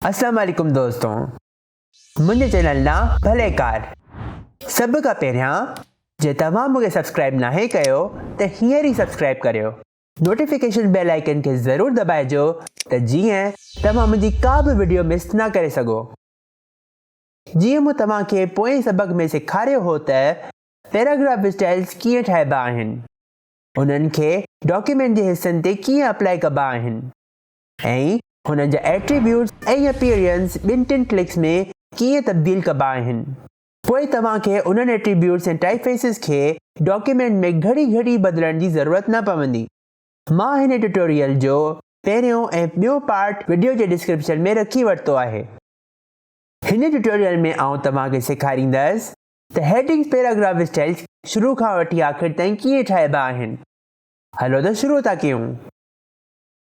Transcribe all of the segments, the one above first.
اسلام عليڪم دوستو منهنجي چينل ڏانهن ڀليڪار سڀ کان پهريان جي توهان مون کي سبسڪرائب ناهي ڪيو ته هينئر ئي سبسڪرائب ڪريو نوٽيفڪيشن بيل آئيڪن کي ضرور دٻائجو ته جيئن توهان منهنجي ڪا به وڊيو مس نه ڪري سگهو جيئن مون توهان کي پوئين سبق ۾ سيکاريو هو ته پيراگراف اسٽائلز ڪيئن ٺاهبا آهن انهن کي ڊاڪيومينٽ جي حصن تي ڪيئن اپلائي ڪبا آهن ۽ هنن جا ايٽريبيوٽس ۽ اپيئرنس ٻن ٽن ڪلڪس ۾ ڪيئن تبديل ڪبا آهن. پوء توهان کي انهن ايٽريبيوٽس ۽ ٽائپ فيسز کي ڊاڪيومينٽ ۾ گهڙي گهڙي بدلڻ جي ضرورت نه پوندي. مان هن ٽيوٽوريل جو پهريون ۽ ٻيون پارٽ وڊيو جي ڊسڪرپشن ۾ رکي ورتو آهي. هن ٽيوٽوريل ۾ آئون توهان کي سيکاريندس ته هيڊنگز پيراگراف اسٽائلز شروع کان وٺي آخر تائين ڪيئن ٺاهبا آهن. هلو ته شروع ٿا ڪيون.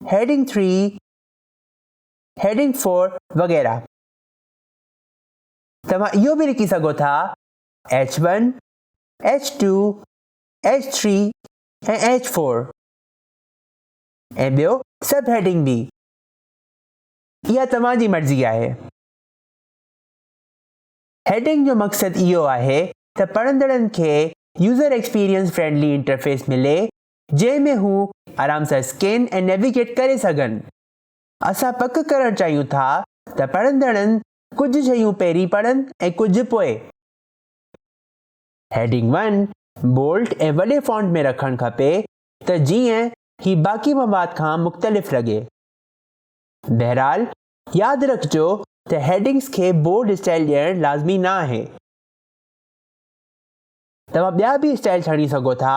هيڊنگ ٿري، هيڊنگ فور وغيره. توهان اهو به لکي سگهو ٿا H one, H two, H three ۽ H four ۽ ٻيو سب هيڊنگ به. اها توهان جي مرضي آهي. هيڊنگ جو مقصد اهو آهي ته پڙهندڙن کي يوزر ايڪسپيرينس فرينڊلي انٽرفيس ملي جنهن ۾ هو آرام سان اسڪين ۽ نيويگيٽ ڪري سگهن. اسان پڪ ڪرڻ چاهيون ٿا ته پڙهندڙن ڪجهه شيون پهرين پڙهن ۽ ڪجهه پوء. هيڊنگ ون بولڊ ۽ وڏي فونٽ ۾ رکڻ کپي ته جيئن هي باقي مواد کان مختلف لڳي. بهرحال ياد رکجو ته هيڊنگز کي بولڊ اسٽائل ڏيڻ لازمي نه آهي. توهان ٻيا به اسٽائل ڇڻي سگهو ٿا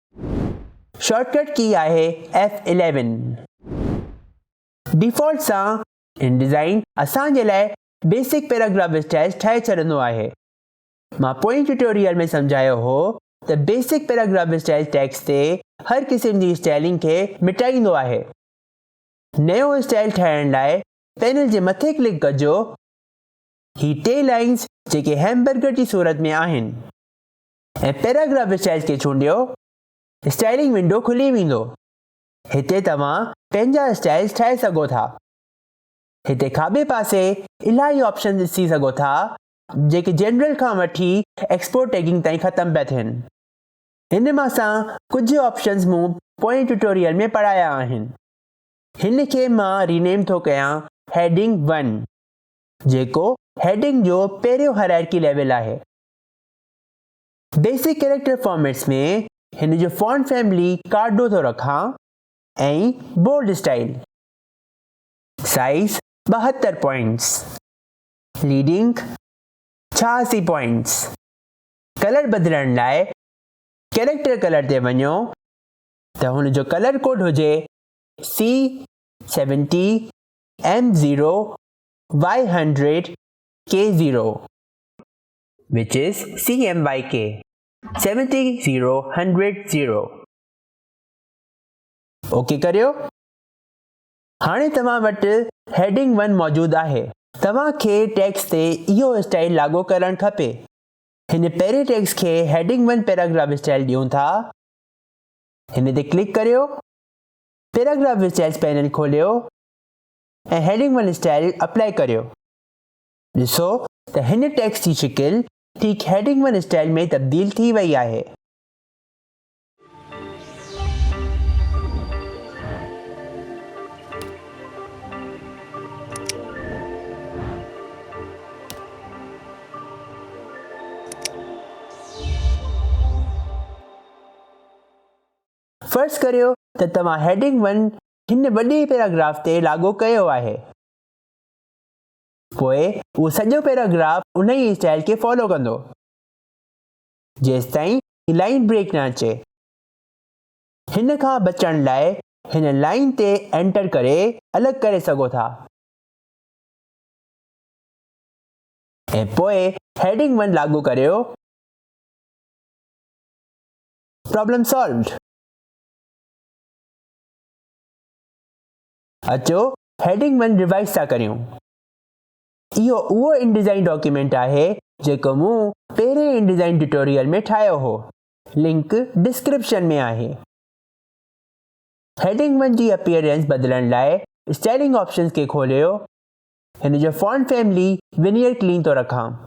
شارٽ ڪٽ ڪي آهي ايف اليون. ڊيفالٽ سان ان ڊيزائن اسان جي لاء بيسڪ پيراگراف اسٽائيل ٺاهي ڇڏندو آهي. مان پوئين ٽيوٽوريل ۾ سمجهايو هو ته بيسڪ پيراگراف اسٽائيل ٽيڪسٽ تي هر قسم جي اسٽائلنگ کي مٽائيندو آهي. نيو اسٽائيل ٺاهڻ لاء پينل جي مٿي ڪلڪ ڪجو. هي ٽي لائنز جيڪي هيمبرگر جي صورت ۾ آهن. ۽ پيراگراف اسٽائيل کي چونڊيو، اسٽائيلنگ ونڊو کلي ويندو. هتي توهان پنهنجا اسٽائيلز ٺاهي سگهو ٿا. هتي کاٻي پاسي الاهي آپشنز ڏسي سگهو ٿا جيڪي جنرل کان وٺي ايڪسپورٽ ٽيگنگ تائين ختم پيا ٿين. هن مان سان ڪجهه آپشنز مون پوئين ٽيوٽوريل ۾ پڙهايا آهن. هن کي مان رينيم ٿو ڪيان هيڊنگ ون جيڪو هيڊنگ جو پهريون هرائرڪي ليول آهي. بيسڪ ڪيريڪٽر فارميٽس ۾ هن جو فونٽ فيملي ڪارڊو ٿو رکان ۽ بولڊ اسٽائيل. سائيز ٻاهتر پوائنٽس. ليڊنگ ڇهاسي پوائنٽس. ڪلر بدلڻ لاء ڪيريڪٽر ڪلر تي وڃو ته هن جو ڪلر ڪوڊ هجي C seventy M zero Y hundred K zero. which is Cm by K. 70 0 100 0 okay ڪريو هاڻي توهان وٽ هيڊنگ 1 موجود آهي توهان کي ٽيڪس تي اهو اسٽائل لاڳو ڪرڻ کپي هن پهرين ٽيڪس کي هيڊنگ 1 پيراگراف اسٽائل ڏيون ٿا هن تي ڪلڪ ڪريو پيراگراف اسٽائلز پينل کوليو ۽ هيڊنگ 1 اسٽائل اپلائي ڪريو ڏسو ته هن ٽيڪسٽ جي شڪل ٺيڪ هيڊنگ ون اسٽائيل ۾ تبديل ٿي وئي آهي. فرض ڪريو ته توهان هيڊنگ ون هن وڏي پيراگراف تي لاڳو ڪيو آهي. پوء اهو سڄو پيراگراف انهيء اسٽائيل کي فالو ڪندو جيستائين هي لائين بريڪ نه اچي. هن کان بچڻ لاء هن لائين تي انٽر ڪري الڳ ڪري سگهو ٿا ۽ پوء هيڊنگ ون لاڳو ڪريو پرابلم سالوڊ اچو هيڊنگ ون ريوائيز ٿا ڪريون. اهو اهو انڊيزائين ڊاڪيومينٽ آهي جيڪو مون پهرين انڊيزائين ٽيوٽوريل ۾ ٺاهيو هو. لنڪ ڊسڪرپشن ۾ آهي. هيڊنگ ون جي اپيئرنس بدلڻ لاء اسٽائلنگ آپشنز کي کوليو. هن جو فونٽ فيملي ونيئر ڪلين ٿو رکان.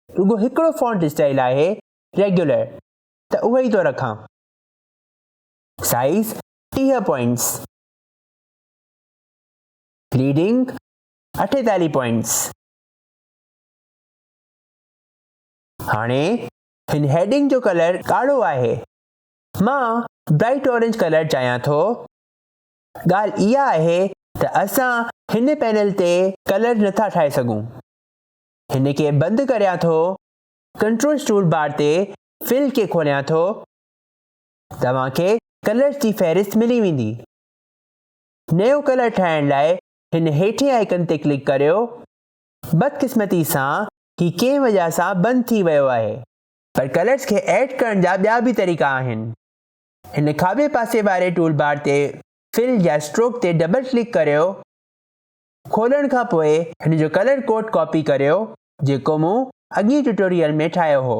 رڳو هڪڙو فونٽ اسٽائل آهي ريگيولر ته اهو ئي ٿو رکان. سائيز ٽيهه پوائنٽس. ليڊنگ اٺيتاليهه پوائنٽس هاڻي هن هيڊنگ جو ڪلر ڳاڙهو آهي مان برائٽ اورنج ڪلر چاهيان ٿو ڳالهه اها آهي ته اسان هن پينل تي ڪلر نٿا ٺاهي سگهون هن کي بند ڪريان ٿو ڪنٽرول ٽول بار تي فل کي کوليان ٿو توهان کي ڪلرز جي فهرست ملي ويندي نيو ڪلر ٺاهڻ لاء هن هيٺين آئيڪن تي ڪلڪ ڪريو. بدقسمتي سان هي ڪنهن وجه سان بند ٿي ويو آهي. پر ڪلرز کي ايڊ ڪرڻ جا ٻيا به طريقا آهن. هن کاٻي پاسي واري ٽول بار تي فل يا اسٽروڪ تي ڊبل ڪلڪ ڪريو. کولڻ کان پوء هن جو ڪلر ڪوڊ ڪاپي ڪريو جيڪو مون اڳين ٽيوٽوريل ۾ ٺاهيو هو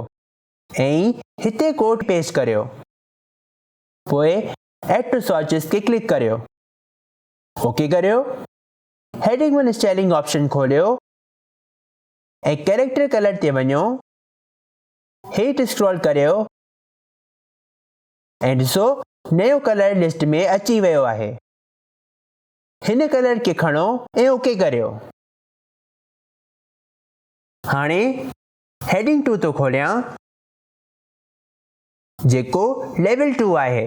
۽ هتي ڪوڊ پيسٽ ڪريو. پوء ايڊ ٽو سورسز کي ڪلڪ ڪريو. اوڪي ڪريو. هيڊنگ ون اسٽائلنگ آپشن کوليو ۽ ڪيريڪٽر ڪلر تي وڃو. هيٺ اسڪرول ڪريو ۽ ڏسو نيو ڪلر لسٽ ۾ اچي ويو آهي. هن ڪلر کي کڻو ۽ اوڪي ڪريو. هاڻي هيڊنگ ٽو ٿو کوليان. جيڪو ليول ٽو آهي.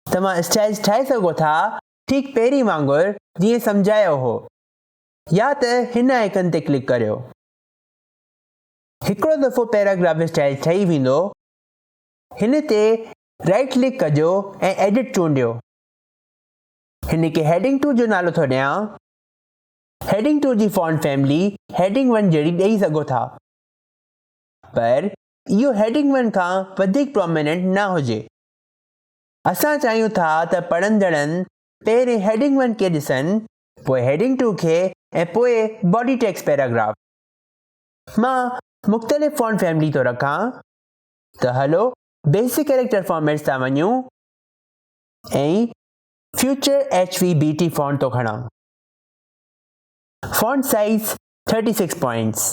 توهان اسٽائلز ٺاهي سگهو ٿا ٺيڪ پهرين وانگر جيئن سمجهايو هو يا ته هن آئيڪن تي ڪلڪ ڪريو. هڪڙو دفعو پيراگراف اسٽائل ٺهي ويندو هن تي رائيٽ ڪلڪ ڪجو ۽ ايڊٽ چونڊيو. هن کي هيڊنگ ٽو جو نالو ٿو ڏيان. هيڊنگ ٽو جي فونٽ فيملي هيڊنگ ون جهڙي ڏئي سگهو ٿا پر اهو هيڊنگ ون کان وڌيڪ پروميننٽ نه هجي. اسان چاهيون ٿا ته پڙهندڙن پهرين هيڊنگ ون کي ڏسن، پوء هيڊنگ ٽو کي ۽ پوء باڊي ٽيڪسٽ پيراگراف. مان مختلف فونٽ فيملي ٿو رکان ته هلو بيسڪ ڪيريڪٽر فارميٽس تان وڃون ۽ فيوچر HVBT فونٽ ٿو کڻان. Font size thirty six points.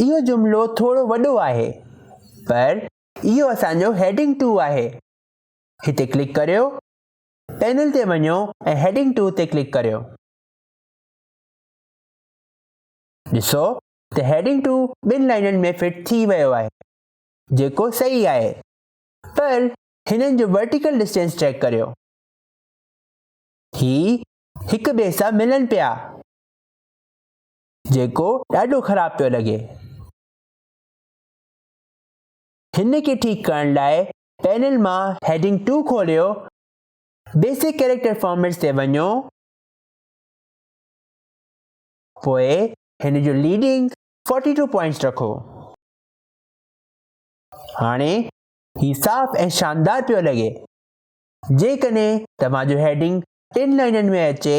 اهو جملو ٿورو وڏو آهي پر اهو اسان جو هيڊنگ ٽو آهي. هتي ڪلڪ ڪريو، پينل تي وڃو ۽ هيڊنگ ٽو تي ڪلڪ ڪريو. ڏسو ته هيڊنگ ٽو ٻن لائنن ۾ فٽ ٿي ويو آهي جيڪو صحيح آهي پر هنن جو ورٽيڪل ڊسٽينس چيڪ ڪريو. هي هڪ ٻئي سان ملن پيا. جيڪو ڏاڍو خراب پيو لڳي. هن کي ٺيڪ ڪرڻ لاء پينل مان هيڊنگ ٽو کوليو، بيسڪ ڪيريڪٽر فارميٽس تي وڃو، پوء هن جو ليڊنگ فورٽي ٽو پوائنٽس رکو. هاڻي هي صاف ۽ شاندار پيو لڳي. جيڪڏهن توهان جو هيڊنگ ٽن لائنن ۾ اچي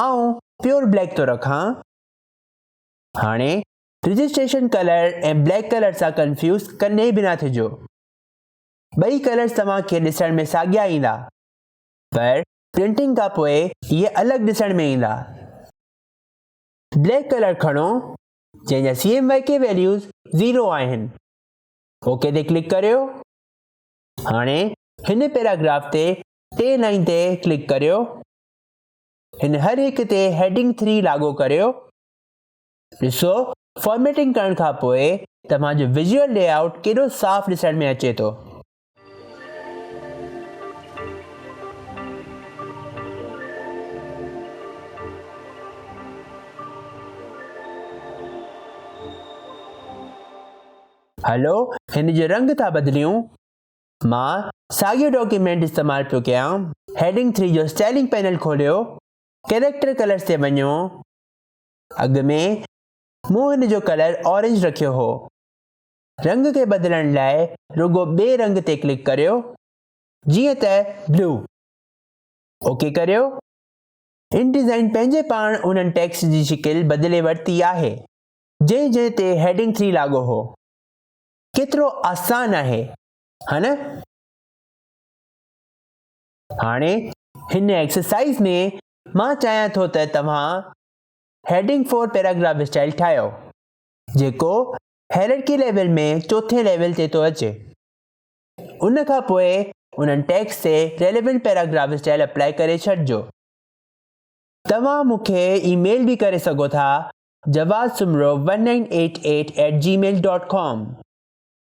آئون پيور بليڪ ٿو رکان. هاڻي رجسٽريشن ڪلر ۽ بليڪ ڪلر سان ڪنفيوز ڪڏهن به نه ٿجو. ٻئي ڪلرز توهان کي ڏسڻ ۾ ساڳيا ايندا پر پرنٽنگ کان پوء اهي الڳ ڏسڻ ۾ ايندا. بليڪ ڪلر کڻو جنهن جا CMYK ويليوز زيرو آهن. اوڪي تي ڪلڪ ڪريو. هاڻي هن پيراگراف تي ٽين لائين تي ڪلڪ ڪريو. هن هر هڪ تي هيڊنگ ٿري لاڳو ڪريو. ڏسو فارميٽنگ ڪرڻ کان پوء توهان جو ويزيول لي آئوٽ ڪيڏو صاف ڏسڻ ۾ اچي ٿو. هلو هن جو رنگ ٿا بدليون. مان ساڳيو ڊاڪيومينٽ استعمال پيو ڪيان. هيڊنگ ٿري جو اسٽائلنگ پينل کوليو، ڪيريڪٽر ڪلرز تي وڃو. اڳ ۾ مون هن جو ڪلر اورينج رکيو هو. رنگ کي بدلڻ لاء رڳو ٻئي رنگ تي ڪلڪ ڪريو، جيئن ته بلو. اوڪي ڪريو. ان ڊيزائن پنهنجي پاڻ انهن ٽيڪسٽ جي شڪل بدلي ورتي آهي، جنهن جنهن تي هيڊنگ ٿري لاڳو هو. ڪيترو آسان آهي ها نه؟ هاڻي هن ايڪسرسائيز ۾ مان چاهيان ٿو ته توهان هيڊنگ فور پيراگراف اسٽائيل ٺاهيو جيڪو هيررڪي ليول ۾ چوٿين ليول تي ٿو اچي ان کان پوء انهن ٽيگس تي ريليونٽ پيراگراف اسٽائيل اپلائي ڪري ڇڏجو توهان مون کي اي ميل به ڪري سگهو ٿا Jawaz Soomro one nine eight eight eight Gmail dot com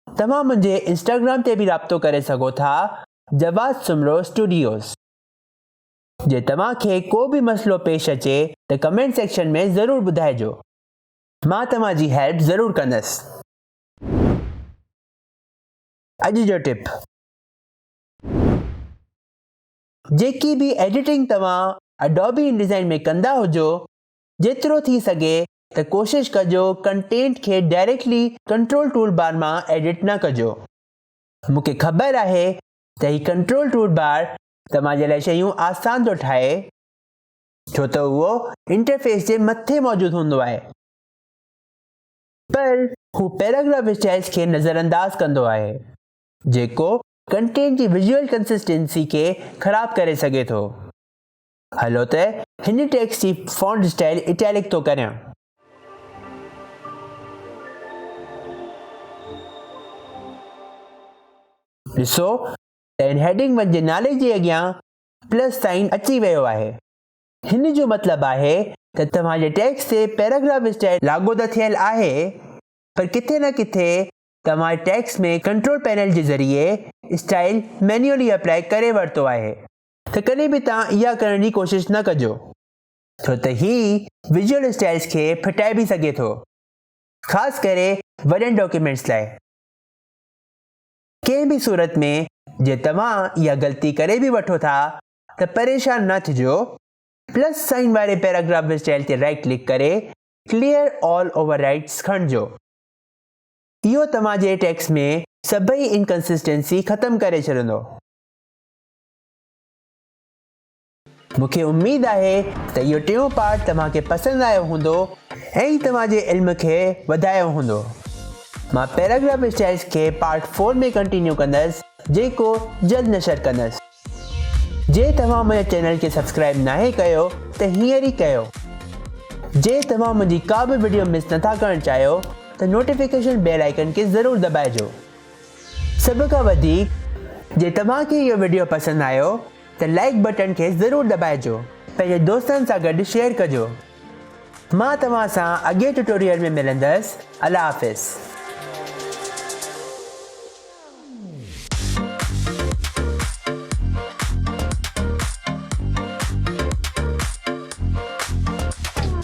توهان منهنجي انسٽاگرام تي به رابطو ڪري سگهو ٿا جواز سومرو اسٽوڊيوز جي توهان کي ڪو به مسئلو پيش اچي ته ڪمينٽ سيڪشن ۾ ضرور ٻڌائجو مان توهان جي هيلپ ضرور ڪندس اڄ جو ٽپ جيڪي به ايڊيٽنگ توهان اڊوبي انڊيزائن ۾ ڪندا هجو جيترو ٿي سگهي ته ڪوشش ڪجو ڪنٽينٽ کي ڊائريڪٽلي ڪنٽرول ٽول بار مان ايڊٽ نه ڪجو. مون کي خبر آهي ته هي ڪنٽرول ٽول بار توهان جي لاء شيون آسان ٿو ٺاهي ڇو ته اهو انٽرفيس جي مٿي موجود هوندو آهي پر هو پيراگراف اسٽائلز کي نظرانداز ڪندو آهي جيڪو ڪنٽينٽ جي ويزوئل ڪنسسٽنسي کي خراب ڪري سگهي ٿو. هلو ته هن ٽيڪسٽ جي فونٽ اسٽائل اٽيلڪ ٿو ڪريان. ڏسو ته هن هيڊنگ ون جي نالي جي اڳيان پلس سائين اچي ويو آهي. هن جو مطلب آهي ته توهان جي ٽيڪسٽ تي پيراگراف اسٽائل لاڳو ته ٿيل آهي پر ڪٿي نه ڪٿي توهان جي ٽيڪسٽ ۾ ڪنٽرول پينل جي ذريعي اسٽائل مينيولي اپلائي ڪري ورتو آهي. ته ڪڏهن به توهان اها ڪرڻ جي ڪوشش نه ڪجو ڇو ته هي ويزوئل اسٽائلز کي ڦٽائي به سگهي ٿو خاص ڪري وڏن ڊاڪيومينٽس لاء. ڪنهن به صورت ۾ جي توهان اها غلطي ڪري به وٺو ٿا ته پريشان نه ٿجو پلس سائن واري پيراگراف اسٽائل تي رائيٽ ڪلڪ ڪري ڪليئر آل اوور رائيٽس کڻجو اهو توهان جي ٽيڪسٽ ۾ سڀئي انڪنسسٽنسي ختم ڪري ڇڏندو. مون کي اميد آهي ته اهو ٽيون پارٽ توهان کي پسند آيو هوندو ۽ توهان جي علم کي وڌايو هوندو مان پيراگراف اسٽائلز کي پارٽ فور ۾ ڪنٽينيو ڪندس جيڪو جلد نشر ڪندس جي توهان منهنجي چينل کي سبسڪرائب ناهي ڪيو ته هينئر ئي ڪيو جي توهان منهنجي ڪا به وڊيو مس نٿا ڪرڻ چاهيو ته نوٽيفڪيشن بيل آئيڪن کي ضرور دٻائجو سڀ کان وڌيڪ جي توهان کي اهو وڊيو پسند آيو ته لائيڪ بٽڻ کي ضرور دٻائجو پنهنجي دوستن سان گڏ شيئر ڪجو مان توهان سان اڳئين ٽيوٽوريل ۾ ملندس الله حافظ.